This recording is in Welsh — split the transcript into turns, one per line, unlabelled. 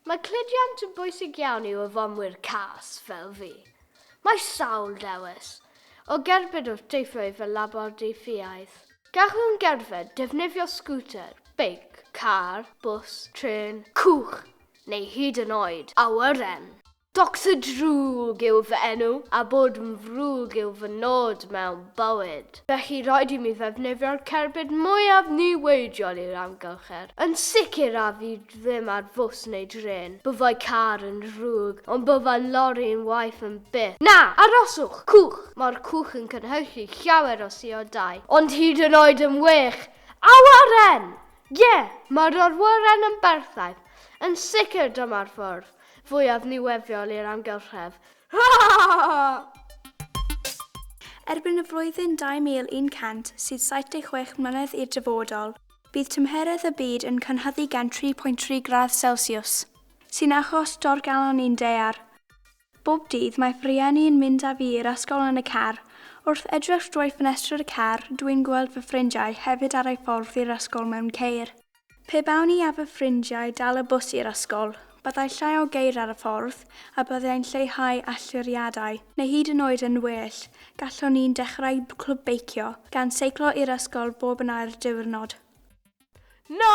Mae cludiant yn bwysig iawn i'w yfonwyr cas, fel fi. Mae sawl dewis o gerbyd wrth deithio i fy labordy ffiaidd. Gallwn gerdded, defnyddio sgwter, beic, car, bws, trên, cwch neu hyd yn oed awyren. Doctor Drwg yw fy enw, a bod yn frwg yw fy nod mewn bywyd. Felly rhaid i mi ddefnyddio'r cerbyd mwyaf niweidiol i'r amgylchedd, yn sicr a fydd ddim ar fws neu drên. Byddai car yn ddrwg, ond byddai lori yn waeth am byth. Na! Aroswch! Cwch! Mae'r cwch yn cynhyrchu llawer o siodau. Ond hyd yn oed yn wych! Awyren! Ie! Mae'r awyren yn berffaith! Yn sicr dyma'r ffordd fwyaf niweidiol i'r amgylchedd.
Erbyn y flwyddyn 2176 mlynedd i'r dyfodol, Bydd tymheredd y byd yn cynhyddu gan 3.3 gradd Celsius, sy'n achos dorrgalon i'n daear. Bob dydd mae fy rhieni yn mynd â fi i'r ysgol yn y car. Wrth edrych drwy ffenestr y car, dw i'n gweld fy ffrindiau hefyd ar eu ffordd i'r ysgol mewn ceir. Pe bawn i a fy ffrindiau dal y bws i'r ysgol, Byddai llai o geir ar y ffordd, a byddai'n lleihau allyriadau. Neu hyd yn oed yn well, gallwn ni'n dechrau clwb beicio, gan seiclo i'r ysgol bob yn ail diwrnod. Na!